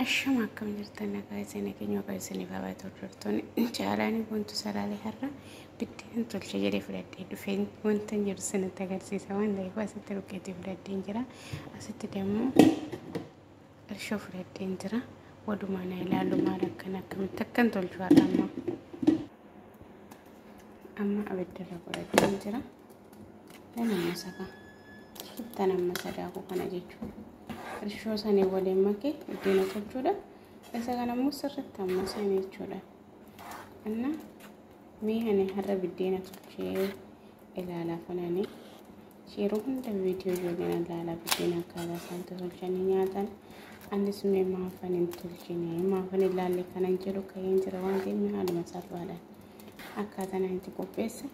Ashama akkam jirtan nagaa isin keenya waqa isiniif haa baatu hordoftoonni caalaanii wantu salaalee har'a biddeen tolcha jedhee fudhadhee dhufeen wanta jiru sanatti agarsiisa waan ta'eef asitti ruqeetii fudhadheen jira asitti dammoo irshoo fudhadheen jira walumaa na ilaalu maal akkan akkamitti akkan tolchu har'a amma amma abiddarra godhadheen jira nama masakaa. Ittan amma sadaakuu kana jechuudha. Irshoo sanii waliin makee buddeena tolchuudha. Isa kana immoo sirriitti amma seene jechuudha. Anna mee ani har'a buddeena tolchee ilaala funani. Yeroo hunda viidiyoo ijoolleen ilaala buddeena akkaataa isaan tolchanii nyaatan. Anis mee maafan hin tolchine maafan ilaalle kanan jedhu ka'een jira waan ta'eef haaluma salphaadhaan akkaataan ani itti qopheesse.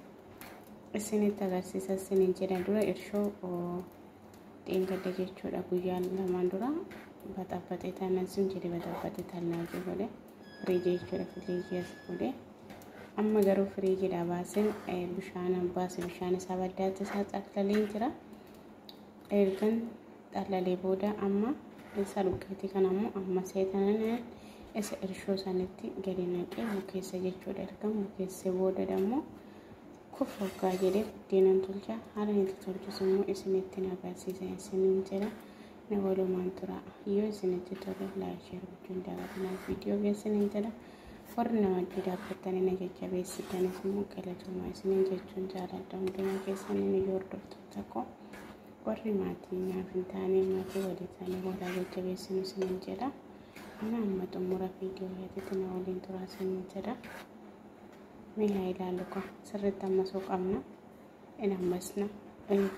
isinitti agarsiisa isiniin jedha dura irshoo dheengadda jechuudha guyyaan lamaan dura baxabbaxee taanaan sun jedhe baxabbaxee taanaan sun godhe firiijii jechuudha firiijii as godhe amma garuu firiijiidha baaseen bishaan baase bishaan isaa baddaatti isaa xaqlalee jira Ergan xallalee booda amma isa dhugeeti kan ammoo amma seetanan isa irshoo sanitti gadi naqee bukeessa jechuudha. Ergan bukeessee booda dammoo kuf hoggaa jedhee buddeenan tolcha haala itti tolchus immoo isinitti na agarsiisa isiniin jedha na walumaan tura yoo isinitti tole laayik sheer gochuun daawwatinaa viidiyoo geessiniin jedha warri na wajjin dhaabbattanii na jajjabeessitanis immoo galatoomaa isiniin jechuun jaaladha hundumaa keessaniin yoo hordoftu. tokko warri maatii naaf hin taane maatii walii taane walaa jajjabeessinu isiniin jedha ana amma xumura viidiyoo irratti na waliin turaa isiniin jedha mee haa ilaallu kun sirriitti ammasuu qabna in ammasna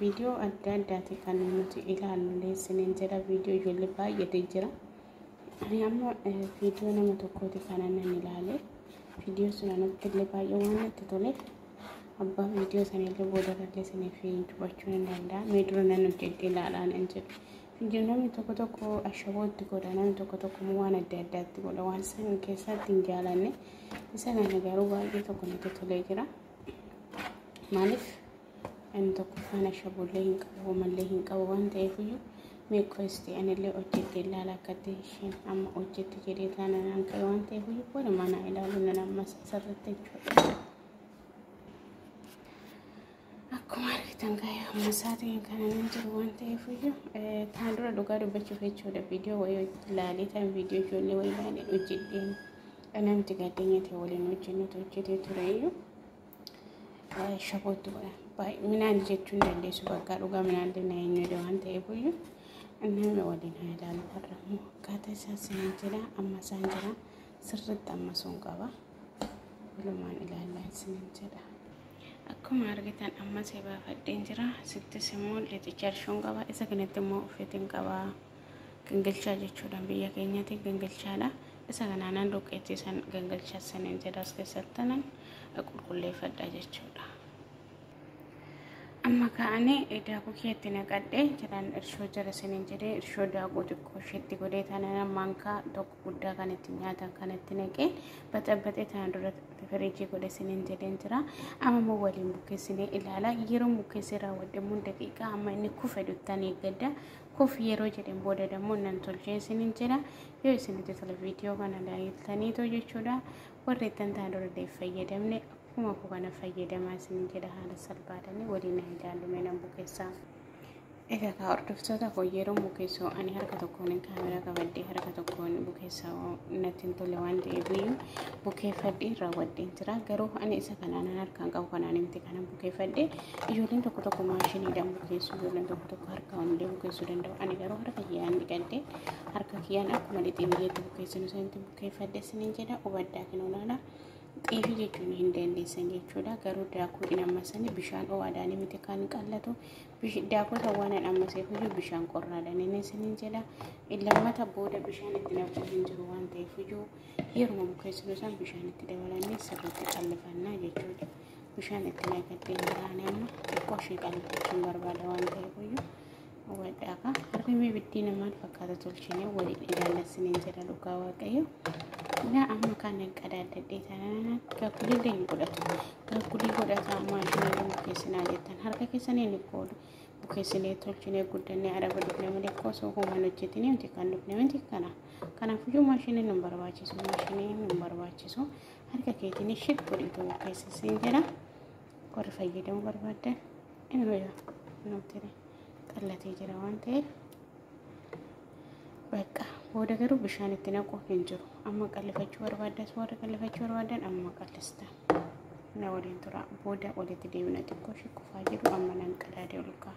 viidiyoo adda addaati kan nuti ilaallu isiniin jedha viidiyoo ijoollee baay'eetu jira. Ani amma viidiyoo nama tokkooti kanan nan ilaale. Viidiyoo sun anatti illee baay'ee waan natti toleef abbaa viidiyoo sana illee booda irratti isiniif dubbachuu nan danda'a. Mee dura nan hojjedhe ilaalaa nan jedhe. Viidiyoo namni tokko tokko ashabootti godha namni tokko tokko immoo waan adda addaatti godha waan san keessatti hin jaalanne. Isa kana garuu baay'ee tokko natti tolee jira. Maaliif Ani tokkoffaan ashaboollee hin qabu homallee hin qabu waan ta'eefiyyuu mee qoysti anillee hojjedhe ilaala akkatti isheen amma hojjetti jedhee taana naan ka'e waan ta'eefiyyuu boona manaa ilaalu nan ammas asirratti jechuudha. Akkuma argitan gaayaa amma sa'aatiin kana nan jiru waan ta'eefiyyuu taan dura dhugaa dubbachuuf jechuudha viidiyoo wayii ilaalee taan viidiyoo ijoollee wayii ilaalee hojjedheen namti gaddeenyatee waliin hojjennutu hojjetee tureyyuu. shaboottu baay'inaan jechuu hin dandeessu bakka dhugaa minaallee na hin jedhe waan ta'eef iyyuu nama waliin haa ilaalu har'a immoo akkaataa isaa seenaa jira amma isaan jira sirriitti amma sun qaba walumaan ilaallaa isiniin jedha. Akkuma argitan amma seebaafadheen jira sittis immoo lixichaa arshoon qaba isa kanatti immoo uffitiin qaba. gangalchaa jechuudhaan biyya keenyatti gangalchaadha. Isa kanaan aan dhoqqeetti san gangalchaa saniin jedha as keessatti tanan qulqulleeffadha jechuudha. Amma ka'anii daakuu keetti naqadhee jedhaan irshoo jala saniin jedhee irshoo daakuu xiqqoo isheetti godhee tanan maankaa tokko guddaa kan itti nyaatan kan itti naqee baxabaxee tana dura firiijii godhe saniin jedheen jira. Amma immoo waliin bukkeessinee ilaala. Yeroo bukkeessee raawwadhe immoo daqiiqaa amma inni kufe duttan eeggadda. kuf yeroo jedhen booda dammoo nan tolchee isinin jedha yoo isinitti tole viidiyoo kana laaltaniitoo jechuudha warri ittan taa dura deef fayyadamne akkuma koo kana fayyadamaa isinin jedha haala salphaadhani waliin hin ilaallume nan bukeessaa egaa kaa hordoftoota koo yeroo bukeessoo ani harka tokkoon kaameraa qabadde harka tokkoon bukeessaa natti hin tole waan ta'eef iyyuu bukeeffadhee raawwadheen jira garuu ani isa kanaan harkaan qabu kanaan miti kanan bukeeffadhe Ijoolleen tokko tokko maashiniidhaan bukeessu, ijoolleen tokko tokko harkaan illee bukeessuu danda'u. Ani garuu harka kiyyaan dhiqadhee harka kiyyaan akkuma lixee biyyeetti bukeessinu sanatti bukeeffadhe isiniin jedha hubadhaa kan olaala. Xeefii jechuun hin dandeessan jechuudha. Garuu daakuu hin ammasanii bishaan ho'aadhaan miti kan qallatu. Daakuu kan waan hin ammaseef iyyuu bishaan qorraadhaan inni isiniin jedha. Lammata booda bishaan itti naquu hin jiru waan ta'eef iyyuu yeruma bukeessinu san bishaan itti dabalannee sirriitti qallifanna jechuudha. bishaan itti naqattee hin taane amma xiqqoo ishee qalbachuun barbaada waan ta'eef iyyuu hawwadhaa ka harmee biddiina maal fakkaata tolchine waliin ilaallassineen jedha dhugaa waaqayyo gaa amma kan hin qadaadadhee taanaan gaagguliillee hin godhatu gaaggulii godhata amma isheen hin bukeessinaa jettan harka keessanii hin qoolu bukeessinee tolchinee guddannee araba dhufne malee koo osoo hooman hojjetinee miti kan dhufne miti kana kanaaf iyyuu maashiniin hin barbaachisu maashiniin hin barbaachisu harka keetiin ishib godhii ta'uu keessa siin jedha warri fayyadamuu barbaaddan inuma jira inuma ture qallatee jira waan ta'eef bakka booda garuu bishaan itti naquun hin jiru amma qallifachuu barbaaddas warri qallifachuu barbaadan amma qallista na waliin tura booda walitti deemna xiqqoo shikkufaa jiru amma nan qadaadee ol ka'a.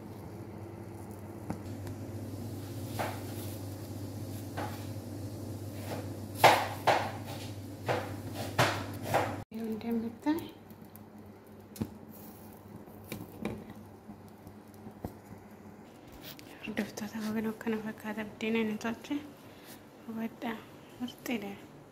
Hordoftoota babaloo kana fakkaata buddeena inni tolche hubadhaa murteedha.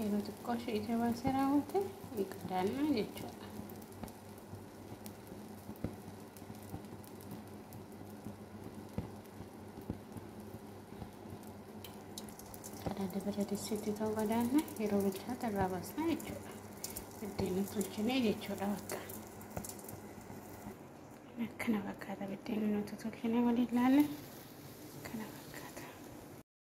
Yeroo xiqqoo ishee ija baasee raawwate ni qadaannaa jechuudha. Qadaada bira dissiitti ta'uu qadaanna yeroo bilchaate irraa baasna jechuudha. Buddeena tolchinee jechuudha bakka. Akkana fakkaata buddeena nuti tolchinee waliin laalle.